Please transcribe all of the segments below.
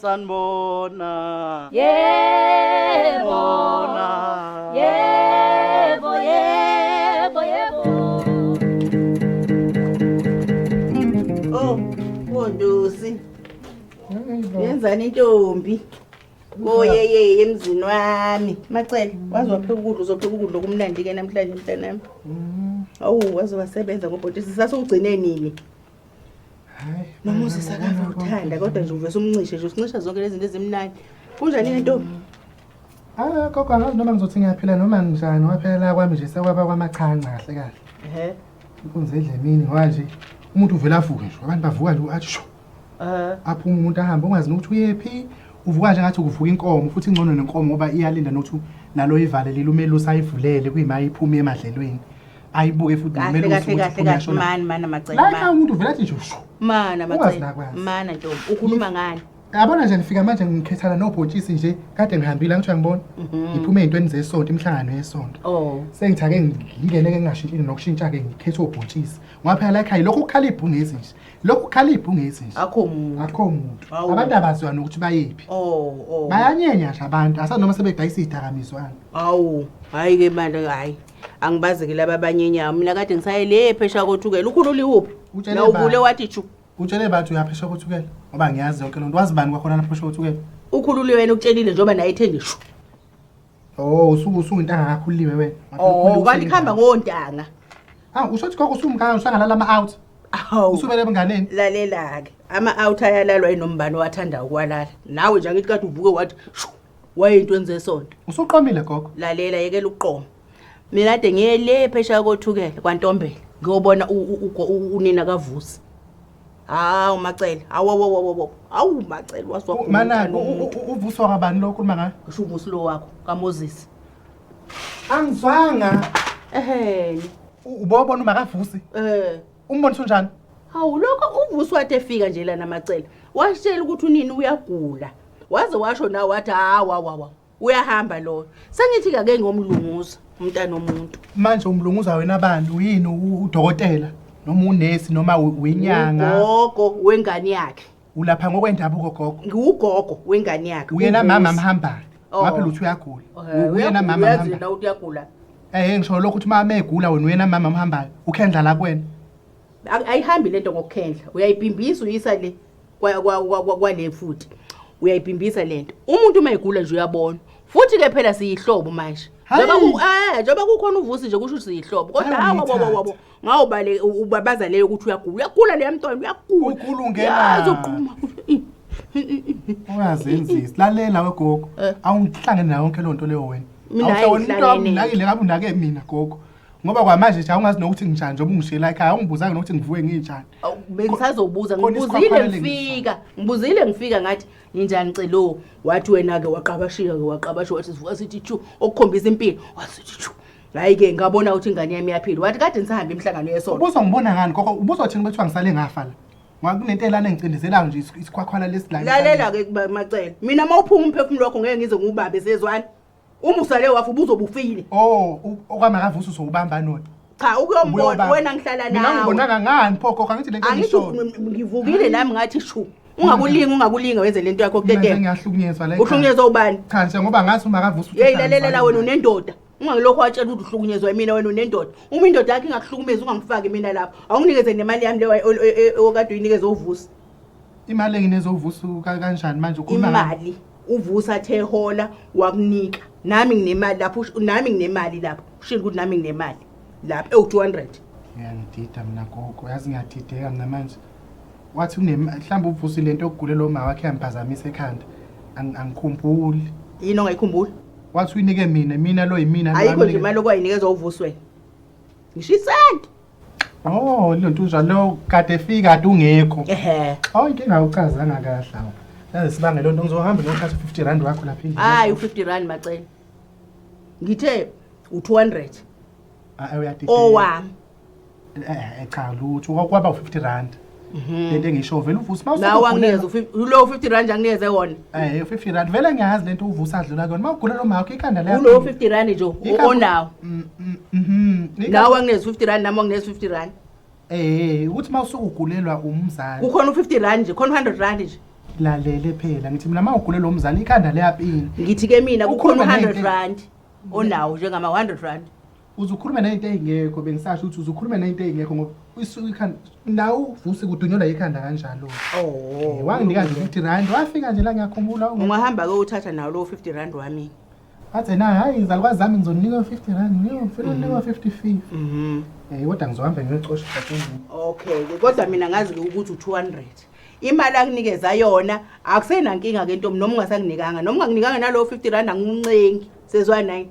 sanibona yebo yebo yebo yebo oh kondosi yenzani intombi koyeyeye emzini wami macele waze wapheka ukudla uzopheka ukudla okumnandi-ke namhlanje mntanami mm. awu waze wasebenza ngobhotisi sasewugcine nini nomoses akafa kuthanda kodwa nje uvese umncishe nje usincisha zonke lezi zinto ezimnani kunjani le ntombi Ah, gogo angazi noma ngizothi ngiyaphila noma njani waphela kwami nje sekwaba kwamachanca kahle kahle. Ehhe. Inkunzi edla emini ngoba nje umuntu uvele avuke nje abantu bavuka nje athi sho. Eh. Aphuma umuntu ahambe ungazi nokuthi uyephi. Uvuka nje ngathi ukuvuka inkomo futhi ingcono nenkomo ngoba iyalinda nokuthi nalo ivale lilumelusa ayivulele kuyima iphuma emadlelweni. ayibuke futhi kahle kumele kahle usuke kahle uthi kahle uyashona. mani mana macela Like mani umuntu vele athi nje shu. mana Ungazi macela nakwazi. mana ntombi ukhuluma ngani Yabona nje ngifika manje ngikhethana nobhontshisi nje kade ngihambile angithiwa ngibona. Ngiphume ezintweni zesonto imihlangano yesonto. Mhm. oh Sengithake ngingene ke ngingashintshile nokushintsha ke ngikhethe obhontshisi. Ngoba phela la ekhaya lokhu ukukhala ibhungezi nje. Lokhu ukukhala ibhungezi nje. akho muntu Akho muntu. Awu. Abantu abaziwa nokuthi bayephi. oh oh Bayanyenya nje abantu asanoma sebedayisa izidakamizwana. awu hayi ke bandla hayi angibazi ke laba abanye inyawo mina kade ngisaye le phesha kothukela ukhulula iwuphi Utshele na ubani? uvule wathi ju utshele bathi uyaphesha kothukela ngoba ngiyazi yonke loo nto wazi bani kwakhona lapho phesha kothukela ukhulule wena ukutshelile njengoba naye ethe ngisho o usuke usuwintanga kakhuliwe wena o kanti kuhamba Oh, ngontanga awu usho ukuthi koko usumkaya usangalala ama-out awu usubele ebunganeni lalela-ke ama-out ayalalwa inombani owathanda ukwalala nawe nje angithi kade uvuke wathi shu wayinto enze esonto usuqomile gogo lalela yekela ukuqoma mina kade ngiye le phesheya kothukela kwantombela ngiyobona u- u- ugo- u- unina kavusi hawu macele awowowowowo awu macele manaki uvusi wakabani lo ukhuluma ngayo usho uvusi lo wakho kamoses angizwanga eheni ubobona umakavusi um Umbonisa unjani? Hawu lokho uvusi wathi efika nje lana macela. Washela ukuthi unini uyagula. Waze washo nawe wathi hawa wawa. Uyahamba loyo. Sengithi kake ngomlunguza umntana omuntu. Manje umlunguza wena bani uyini u- udokotela noma unesi noma u- uyinyanga? Ugogo wengane yakhe. Ulapha ngokwendabuko gogo. Ngiwugogo wengane yakhe. Uyena uVusi. mama mhambane. Oh. Waphela uthi uyagula. Eh, Uyena mama uyazi mhambane. yena ukuthi uyagula Eh ngisho lokho ukuthi mama egula wena uyena mama mhambayo. Ukhendla la kuwena. Ak- ayihambi lento ngokukhendla uyayibhimbisa uyisa le kwa- kwa- kwa- kwa- kwale futhi uyayibhimbisa lento umuntu uma egula nje uyabona futhi ke phela siyihlobo manje Hhayi. Njengoba ku- eh, njengoba kukhona uvusi nje kusho ukuthi siyihlobo kodwa Hhayi, hawa wabo ungithatha. wabo ngawubale ubabaza leyo ukuthi uyagula uyagula leya mntwana uyagula ugula ungenazogquma ungazenzisi lalela wegogo eh. awungihlangene nayo yonke loo nto leyo wena awuhlawoniunakile kabe unake mina gogo ngoba kwamanje nje awungazi nokuthi nginjani njengoba ungishela ekhaya awungibuzanga nokuthi ngivuke nginjani bengisazobuza ngibuzile ngifika ngibuzile ngifika ngathi ninjani celo wathi wena-ke waqabashika-ke waqabasha wathi sivuka sithi chu okukhombisa impilo wasithi chu hayi ke ngabona ukuthi ingane yami iyaphila wathi kade nisahamba imihlangano yesonto Ubuso ngibona ngani koko ubuso thini bethiwa ngisale ngafa la. Ngoba kunento elana engicindezelayo nje is- isikhwakhwala lesilana. lalela ke kuba- macela mina uma uphuma umphefumulo wakho ngeke ngize ngiwubambe sezwani uma usale wafa ubuzobufile Oh, u- okwamakavuso sowubamba nona. cha ukuyombona Ubuyobamba. wena ngihlala Mina nawe ngibonanga ngani pho koko angithi lento angisho engishoyo. ng- ngivukile nami ngathi shu ungakulingi ungakulingi wenze lento yakho Mina kutetema ngiyahlukunyezwa la. ekhaya. uhlukunyezwa ubani Cha nje ngoba ngathi umakavuso. yeyi lalelela wena unendoda ungangilokhu watshela ukuthi uhlukunyezwa imina wena unendoda uma indoda yakho ingakuhlukumezi ungangifaki mina lapho awunginikeze nemali yami leyo okade uyinikeze uvusa imali engineze uvusa kanjani manje imali uvusa athe hola wakunika nami nginemali lapho nami nginemali lapho ushilo ukuthi nami nginemali lapho ewu-200 ngiyangidida mina gogo yazi ngiyadideka mina manje wathi mhlawumbe uvusile into yokugule lo ma wakhe yamphazamisa ekhanda angikhumbuli yini ongayikhumbuli wathi uyinike mina mina lo yimina lo ayikho nje amnike- imali okwayinikeza uvuswe ngisho isenti oh lento unjwa lo kade efika kade ungekho ehe oh inkinga awuchazanga kahle awu yazi sibange lento ngizohamba ngiyothatha u-50 rand wakho lapha endlini. hayi u-50 rand macela ngithe u-200 Ah, ah, uyadideka. owami Eh cha lutho kwaba u50 rand. Mhm. Lento engisho vele uvusa mawusa. Nawe angiyeza ulo 50 rand angiyeze wona. Eh 50 rand vele ngiyazi lento uvusa adlula kuyona mawugula lo makho ikhanda lakho. Ulo 50 rand nje onawo. Mm, mm, mhm. Nawe angiyeza 50 rand nami angiyeza 50 rand. Eh ukuthi mawusuka ugulelwa umzali. Kukhona u50 rand nje, khona 100 rand nje. lalele phela ngithi mina uma ugule lo mzali ikhanda liyapina ngithi ke mina kukhona 100 rand onawo njengama 100 rand uzukhulume nayinto eyingekho bengisasho ukuthi uzukhulume nayinto eyingekho ngoba isuke ikhanda nawe uvuse kudunyelwa yikhanda kanjalo oh wanginika nje 50 rand wafika nje la ngiyakhumbula ungahamba ke uthatha nawo lo 50 rand wami athe na hayi izalukwazi zami ngizoninika 50 rand ngiyofuna mhm. unikwa 55 mhm eh kodwa ngizohamba ngiyocosha okay kodwa mina ngazi ukuthi u200 imali akunikeza yona akusenankinga ke ntombi noma ungasakunikanga noma ungakunikanga nalo 50 rand anguncengi sezwa nine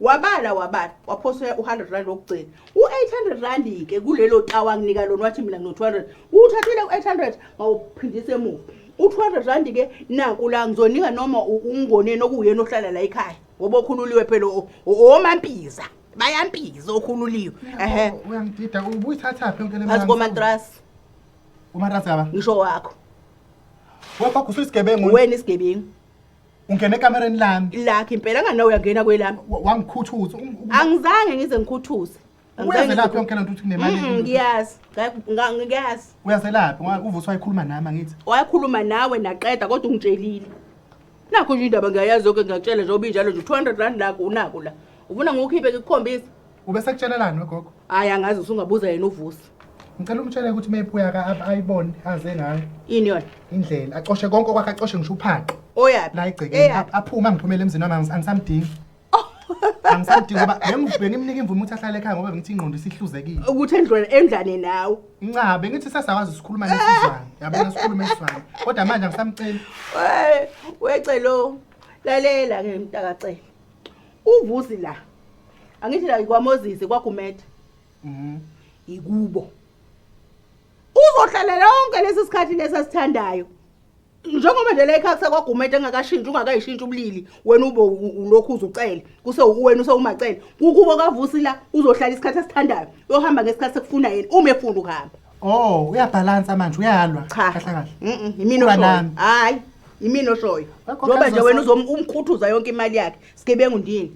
wabala wabala waphosa u-hundred rand wokugcina u-eight hundred rand-ke kulelo tawa nginika lona wathi mina ngino-two hundred uwuthathile u-eight hundred mawuphindisa emuva u-two hundred rand-ke naku la ngizonika noma ungoneni okuwuyena ohlala la ekhaya ngoba okhululiwe phela owomampiza bayampiza okhululiwe ehe uyangidida ubuyithathaphi yonke leazi komantrasi umantrasi kaba ngisho wakho wefakho usuyisigebengu wena isigebengu ungena ekamereni lami lakhe impela ngana uyangena kwelami wa- wangikhuthuza Ung- ung- angizange ngize ngikhuthuze Angizange uyazelaphi ngize- yonke le nto ukuthi Mm, kunemali ngiyazi Nga- nga- ngiyazi uyazelaphi Ngoba uvusi wayekhuluma nami angithi wayekhuluma nawe naqeda kodwa ungitshelile nakho nje indaba ngiyayazi yoke ngiyakutshela njengoba injalo nje 200 rand nakho unako la ufuna ngiwukhiphe ngikukhombise Ube sekutshelelani wegogo? Hayi angazi usungabuza yena uvusi. Ngicela umtshele ukuthi meyibuya ka ab- ayibone aze ngayo Yini yona? indlela acoshe konke okwakhe acoshe ngisho uphaqe Oyaphi? la egcekeni Eyaphi? ap- aphume angiphumele emzini wami angis- angisamdingi. Angisamdingi ngoba bengiv- bengimnika imvume ukuthi ahlale ekhaya ngoba bengithi ingqondo isihluzekile. Ukuthi endlwane endlane nawe. Nca bengithi sasakwazi sikhuluma ngesizwana. Yabona sikhuluma isizwana. Kodwa manje angisamceli. Wecelo. Lalela ke mntaka cela. uvusi la angithi la ikwamozisi kwagumede mhm ikubo uzohlalela yonke lesi sikhathi lesasithandayo njengoba nje la ekhaya kwagumede engakashintshi ungakayishintshi ubulili wena ube ulokhu uzucele kuse uwena usewumacele kukubo kavusi la uzohlala isikhathi asithandayo uyohamba ngesikhathi sekufuna yena uma efuna ukuhamba Oh, uyabhalansa manje uyalwa. Cha. Kahle kahle. Mhm, yimina Uba oshoyo. nami. Hayi, yimina oshoyo. Wakho Njengoba nje kaZoso. wena uzom- umkhuthuza yonke imali yakhe. Sigebengu ndini.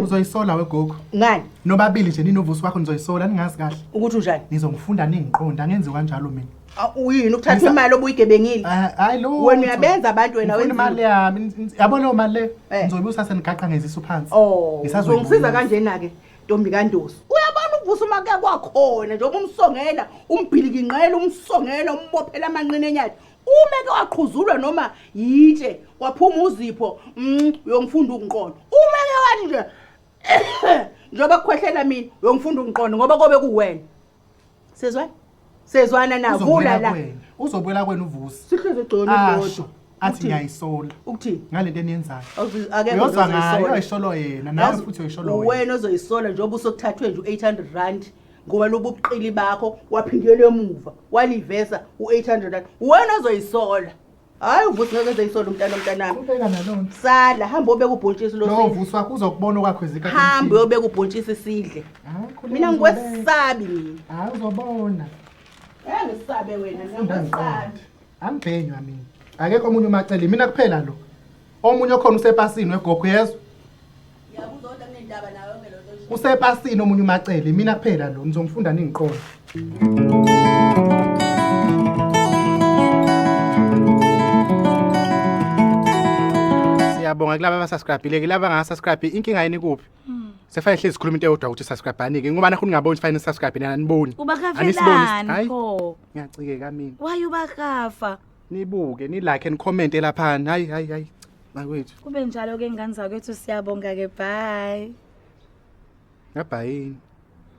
Uzoyisola wegogo. Ngani? Nobabili nje ninovusi wakho nizoyisola ningazi kahle. Ukuthi unjani? Nizongifunda ningiqonda ngenziwa kanjalo mina. Aw, Uyini ukuthatha Ngisa- imali obuyigebengile? Ah, Hayi lo. Wena uyabenza abantu wena Ngifuna imali wenzile. yami. Yabo leyo mali le. Eh. Ngizoyibusa senigaqa ngezisu phansi. Oh, Ngisazoyibusa. uzongisiza kanjena ke. ntombi kandosi uyabona uvusa uma kuya kwakhona njengoba umsongela umbhilikinqela umsongela umbophela amanqina enyathi uma ke waqhuzulwa noma yitshe waphuma uzipho mm, uyongifunda ukunqondo uma ke wathi nje njengoba kukhwehlela mina uyongifunda ukunqondo ngoba kobe kuwena sezwana sezwana na vula la uzobuyela kwena uvusi sihleze gcono kodwa athi ngiyayisola ukuthini ngalento eniyenzayo uyozwa ngayo uyayisholo yena nawe futhi uyayisholo wena wena ozoyisola njengoba usokuthathwe nje u-800 rand ngoba lobu buqili bakho waphindela emuva walivesa u-800 rand wena ozoyisola Hayi uvusi ngeke eze isolo umntana mntanami. Ubeka nalona. Sala hamba obeka ubhontshisi lo. Lo vusi wakho uzokubona okwakho ezika. Hamba obeka ubhontshisi sidle. Mina ngikwesabi mina. Hayi uzobona. Eh ngisabe wena ngiyakwesabi. Angibhenywa mina. Akekho omunye umacele mina kuphela lo. Omunye okhona usepasini wegogo yezwa. usepasini omunye umacele mina kuphela lo ngizongifunda ningiqondo siyabonga kulaba abasubscribile kulaba angasubscribe inkinga yini kuphi hmm. sefanele hlezi sikhuluma into eyodwa ukuthi subscribe-anike ngoba nakho ningaboni ukuthi fanele nisubscribe nina aniboni ubakafelani pho ngiyacikeka mina waye ubakafa nibuke nilike and comment elaphana hayi hayi hayi bakwethu kube njalo ke ngane zakwethu siyabonga ke bye ngabhayini